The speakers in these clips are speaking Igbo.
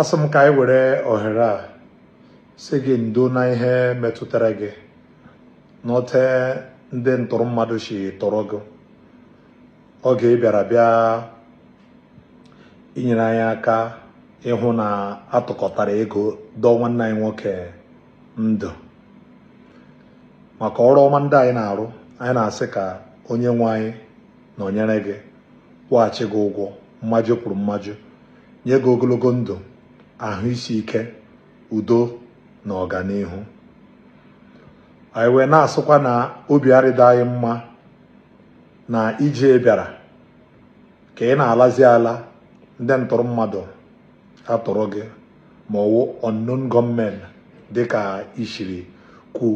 asị m ka anyị were ohere a sị gị ndo na ihe metụtara gị n'ote ndị ntụrụ mmadụ si tọrọ gị oge ị bịara bịa inyere anyị aka ịhụ na a tụkọtara ego dọọ nwanne anyị nwoke ndụ maka ọrụ ọma ndị anyị na-arụ anyị na-asị ka onye nwe anyị nọnyere gị kwụghachi gị ụgwọ mmajụ kwuru mmajụ nye gị ogologo ndụ ahụ isi ike udo na ọganihu anyị wee na-asịkwa na obi arịda anyị mma na ije ị bịara ka ị na-alazi ala ndị ntụrụ mmadụ atụrụ gị ma ọ wụ unknown gunmen dịka i siri kwu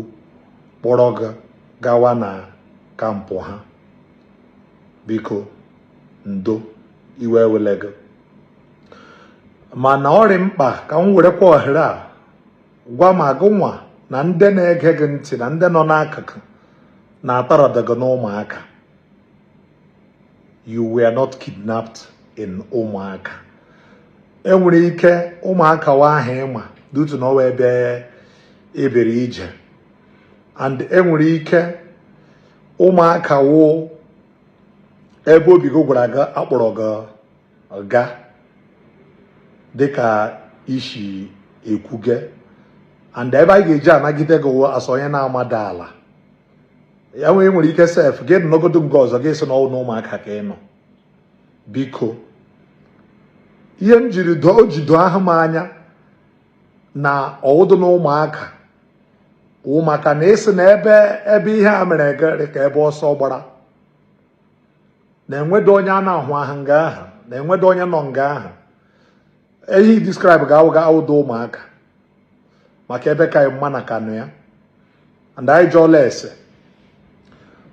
kpọrọ gị gawa na kampụ ha biko ndo iwe ewele gị mana ọ dị mkpa ka m werekwa ohere a gwa ma gị nwa na ndị na-ege gị ntị na ndị nọ n'akụkụ na atọrọda gị n'ụmụaka you were not kidnapped in ụmụaka enwere ike ụmụaka wụ aha ị ma due to na ọ wụ ebe ị bịara ije and enwere ike ụmụaka wụ ebe obi gị gwara gị a kpọrọ gị gaa dịka i si ekwuge and ebe anyị ga-eji anagide gị wụ as onye na-amada ala ya wụ i nwere ike sef gị nọgodo nga ọzọ gị sị na ọ wụ na ụmụaka ka ị nọ biko ihe m jiri doo o ji doo ahụ m anya na ọ wụdụ na ụmụaka maka na ị sị na ebe ebe ihe a mere gị rị ka ebe ọsọ gbara na enwedo onye a na-ahụ ahụ nga ahụ na enwedo onye nọ nga ahụ ihe i describe ga awụdo ụmụaka maka ebe ka mma na kanụ ya and anyị jụọla ese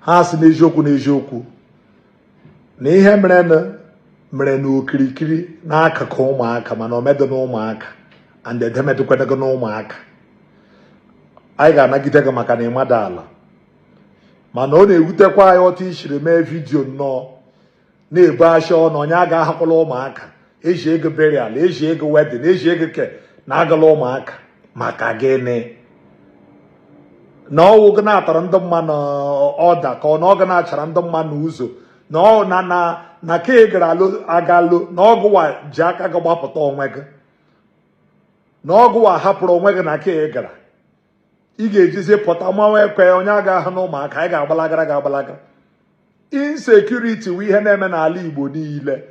ha sị n'eziokwu n'eziokwu na ihe mere mere n'okirikiri n'akụkụ ụmụaka mana o medị na ụmụaka and ebe emedịkwanụ gị na ụmụaka anyị ga-anagide gị maka na ị mada ala mana ọ na-ewutekwa anyị otu i siri mee vidiyo nnọọ na-ebu asha na onye agahakwala ụmụaka e zie gị burial e zie gị wedding e zie gị ke na agala ụmụaka maka gịnị na ọ wụ gị na-atara ndị mmadụ ọda ka ọ na ọ gị na-achara ndị mmadụ ụzọ na ọ na na na ka ị gara agalụ na ọ gụwa ji aka gị gbapụta onwe gị na ọ gụwa hapụrụ onwe gị na ka ị gara ị ga-ejizi pụta mawa ekwe onye agaha na Ụmụaka anyị ga-agbalagara ga agbalagara insecurity wụ ihe na-eme n'ala Igbo niile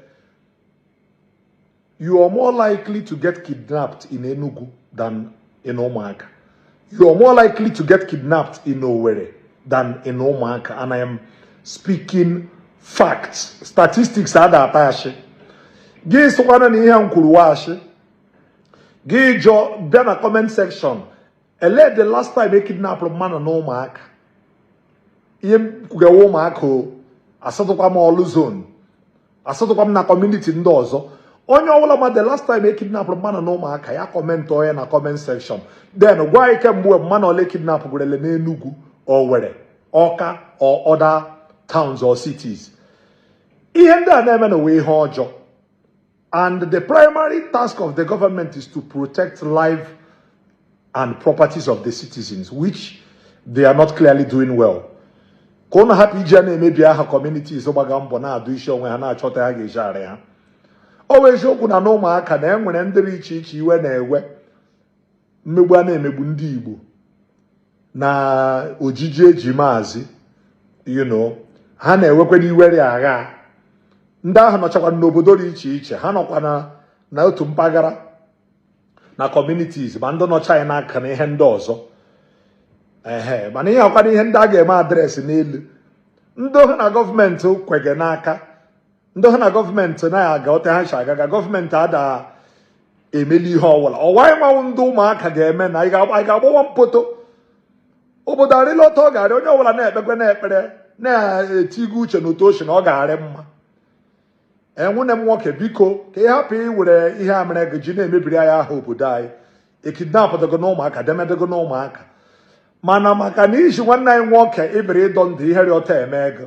you are more likely to get kidnapped in Enugu than in Ụmụaka you are more likely to get kidnapped in Owerri than in Ụmụaka and I am speaking facts statistics ada atụ ashị gị sịkwana na ihe m kwuru wụ ashị gị jụọ bịa na comment section ele the last time e kidnapụrụ mmadụ na ụmụaka ihe m kwuga wụ Ụmụaka o asatụkwa m Ọlụ zone asatụkwa m na kọmuniti ndị ọzọ onye ọbụla ma the last time e kidnapụrụ mmadụ na ụmụaka ya kọmentịọ ya na comment section then gwa anyị kemgbe mmadụ ole e kidnapụgorele n'Enugu Owerri Ọka or other towns or cities ihe ndị a na-eme nụ wụ ihe ọjọọ And the primary task of the government is to protect life and properties of the citizens, which they are not clearly doing well. ka ụnụ hapụ iji ya na-emebi aha communities gbaga mbọ na-adọ isi onwe ha na-achọ otu ha ga-eji arị ha ọ wụ eziokwu na n'Ụmụaka na e nwere ndị rị iche iche iwe na-ewe mmegbu a na-emegbu ndị Igbo na ojiji e ji Maazị you know ha na-ewekwanụ iwe rị aghaa ndị ahụ nọchakwa n'obodo rị iche iche ha nọkwa na otu mpaghara na communities ma ndị nọcha anyị n'aka na ihe ndị ọzọ ehe mana ihe a wụkwanụ ihe ndị a ga-eme adreesị n'elu ndị ha na gọọmenti kwege n'aka ndị ha na gọọmenti naghị aga otu ha si aga aga gọọmenti ada emeli ihe ọwụla ọ wụ anyị nwa wụ ndị Ụmụaka ga-eme na anyị ga-agbawa mbọ tuu obodo arịla otu ọ ga-arị onye ọbụla na-ekpekwanụ ekpere na-etigo uche n'otu ochi na ọ ga-arị mma nwunne m nwoke biko ka ị hapụ iwere ihe a mere gị ji na-emebiri anyị aha obodo anyị ekidnapụtago na ụmụaka demedego na ụmụaka mana maka na iji nwanne anyị nwoke ị bịara ịdọ ndụ ihe rị otu a emee gị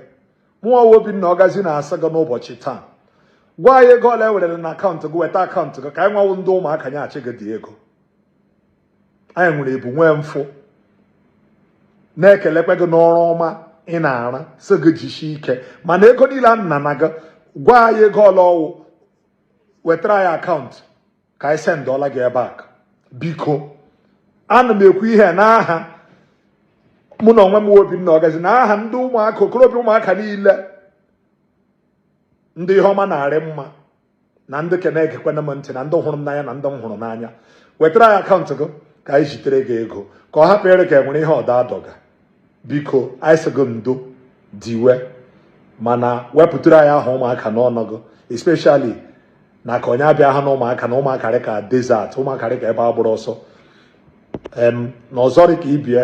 mụwa wụ Obinna Ọgazi na-asị gị n'ụbọchị taa gwa anyị ego ole e werela na akaụntụ gị weta akaụntụ gị ka anyị nwa wụ ndị Ụmụaka nyeachi gị the ego anyị nwere ebu nwee mfụ na-ekelekwa gị n'ọrụ ọma ị na-arụ sị gị jisie ike mana ego niile a nana gị gwa anyị ego ole ọ wụ wetara anyị akaụntụ ka anyị sendụọra gị ya back biko ana m ekwu ihe n'aha mụ n'onwe m Obinna Ọgazi na aha ndị Ụmụaka okorobịa Ụmụaka niile ndị ihe ọma na-arị mma na ndị ke na-egekwana m ntị na ndị hụrụ m n'anya na ndị m hụrụ n'anya wetara anyị akaụntụ gị ka anyị zitere gị ego ka ọ hapụ ịrị ka e nwere ihe ọda adọga biko anyị sị gị ndo diwe mana wepụtara anyị aha ụmụaka n'ọnụ gị especially na ka onye abịa ha na ụmụaka na ụmụaka rị ka desert ụmụaka rị ka ebe a gbụrụ ọsọ em na ọzọ dị ka ibie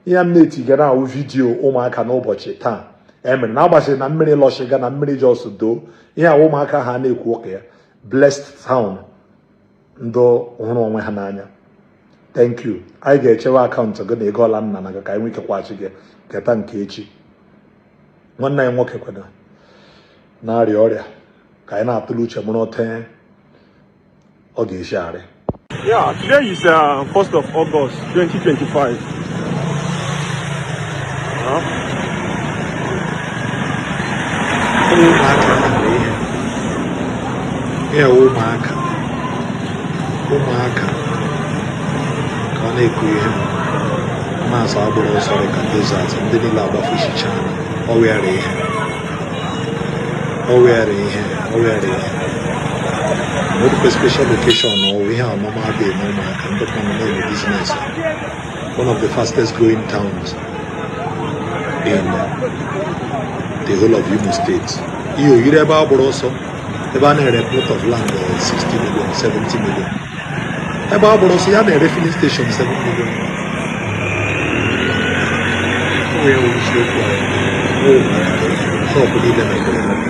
ihe m na-etiga na wụ vidiyo ụmụaka n'ụbọchị taa e mere na agbasịrị na mmiri lọshiga na mmiri jos doo ihe wụ ụmụaka ha na-ekwu ụka ya blessed town ndị hụrụ onwe ha n'anya thank you anyị ga-echewe akaụntụ gị na ego ole a nara gị ka anyị nwee ike kwaghachi gị keta nke echi nwanne anyị nwoke kwena na-arịa ọrịa ka anyị na-atụle uche mụrụ otu ọ ga-esi arị Yeah, today is uh, 1st of August. 2025 ya ụmụaka ụmụaka ka ọ na-ekwu ihe na-asị a gbụrụ ọsọ dị ka desert ndị niile agbafuchichana ọ wịara ihe ọ wịara ihe ọ wịara ihe nwere special location na ọ wụ ihe ọmụma dị eme ụmụaka one of the fastest growing towns in the whole of Imo State. Ihe o yiri ebe a gbụrụ ọsọ ebe a na-ere plot of land 60 million 70 million ebe a gbụrụ ọsọ ya na-ere filling station 7 million onye nwere isiokwu ahụ shọpụ niile mepere emepe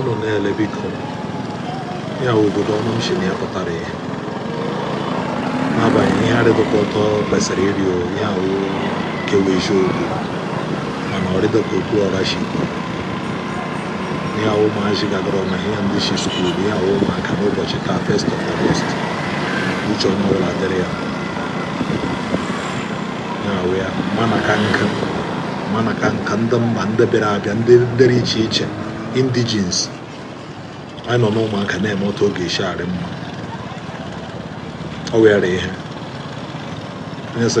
unu na-ele biko ya wụ obodo ọnụ m si na ya pụtara ihe n'agbanyeghị ihe arịdịghị otu o kwesịrị ịrị o ya wụ kewa eziokwu mana ọ rịdịghị ka Okwuluora si kwuru na ya wụ ụmụazị gagara ọma ihe ndị si skuul na ya wụ ụmụaka n'ụbọchị taa first of August uche onye ọbụla dịrị ya ya wụ ya mana ka nka mana ka nka ndị mba ndị bịara abịa ndị dịrị iche iche indigenes anyị nọ n'ụmụaka na-eme otu ọ ga-esi arị mma o nwere ihe onye sị